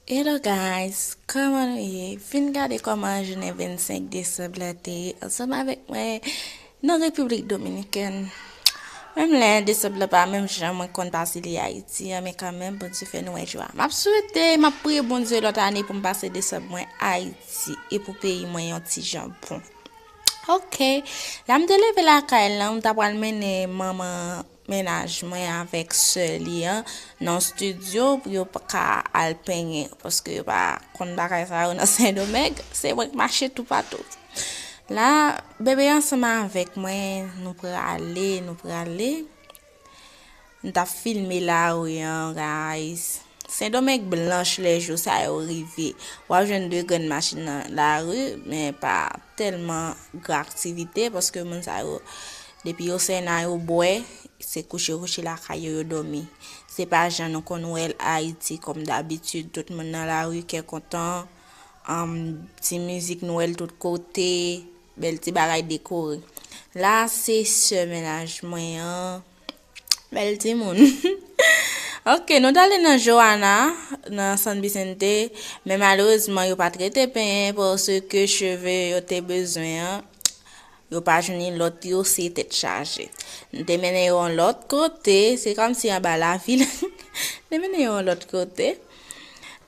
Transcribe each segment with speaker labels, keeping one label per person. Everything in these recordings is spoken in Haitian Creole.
Speaker 1: Hello guys kòman nou ye vin gade kòman jounen 25 desanb la te ye ansanm avèk mwen nan repiblik dominikèn menm lè 1 desanb la pa menm jan mwen konn pase li ayiti an men kanmenm bondye fè nou wè jou a map swete map priye bondye lòt ane pou m pase desanb mwen ayiti e pou peyi mwen yon ti jan bon ok la m te leve lakay lan m ta pral mennen manman mennaj mwen avèk sè li an nan studio pou yo ka al penyen paske yo pa konn bagay sa yo nan sendomeng se mwen k mache toupatou la bebe ansanm avèk mwen nou prale nou prale m tap filme lari an guys sendomeng blanch lè jou sa yo rive wap jwenn de grenn machin nan lari men pa tèlman gran aktivite paske moun sa yo Depi yo fè nan yo bwè, se kouche kouche lakay yo yo dòmi. Se pa jan nou konn wè l Ayiti kòm dabitid, tout moun nan lari kè kontan, anm, ti mizik nwèl tout kote, bèl ti bagay dekore. La a se sè mennaj mwen an, bèl timoun. Ok, nou t ale nan Joana, nan San Vicente, men malerezman yo pa t rete penyen paske cheve yo te bezwen an, Yo pa jwenn lòt yo se tèt chaje. N te mennen yo yon lòt kote, se kòm si anba lavil. N te mennen yo yon lòt kote.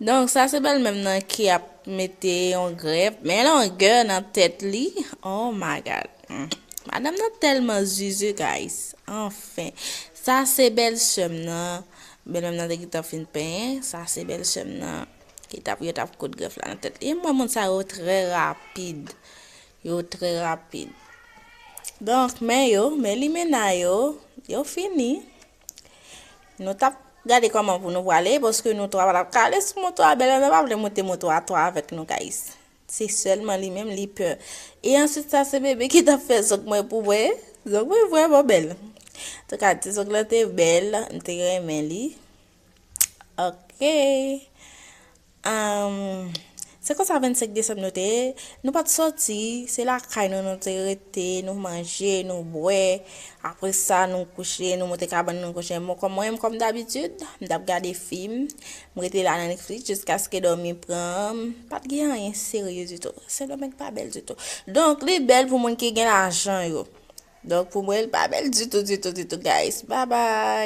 Speaker 1: Donk sa se bèlmè m nan ki ap mete yon grèp, men longè nan tèt li, oh my God. Madanm nan tèlman zuzu guys, anfen. Sa se bèlsè m nan, bèlmè m nan te gentan fin penyen, sa se bèlsè m nan ki t ap yo t ap koud grèf la nan tèt li. E m wè moun sa yo trè rapid. Yo trè rapid. Donk, men yo, men limena yo, yo fini. Nou t ap gade kòman pou nou prale, paske nou twa pa t ap ka ale sou moto a. Bèlmè mwen pa vle monte moto a twa avèk nou, gayis. Se sèlman li menm, li pè. E answit sa, se bebe ki t ap fè zòk mwen pou mwen. Zòk mwen vrèman bèl. Antouka, ti zòk lan te bèl, m te renmen li. Ok. Ahh se konsa 25 desanm nou te ye, nou pat sòti, se lakay nou nou te rete, nou manje, nou bwè, apre sa nou kouche, nou monte kabann nou kouche, bon kòm mwen menm kòm dabitid, m t ap gade fim, m rete la nan Netflix jiskaske dòmi pran m, pat gen anyen serye ditou, Sendomeng pa bèl ditou, donk li bèl pou moun ki gen lajan yo, donk pou mwen l pa bèl ditou ditou ditou guys, babay.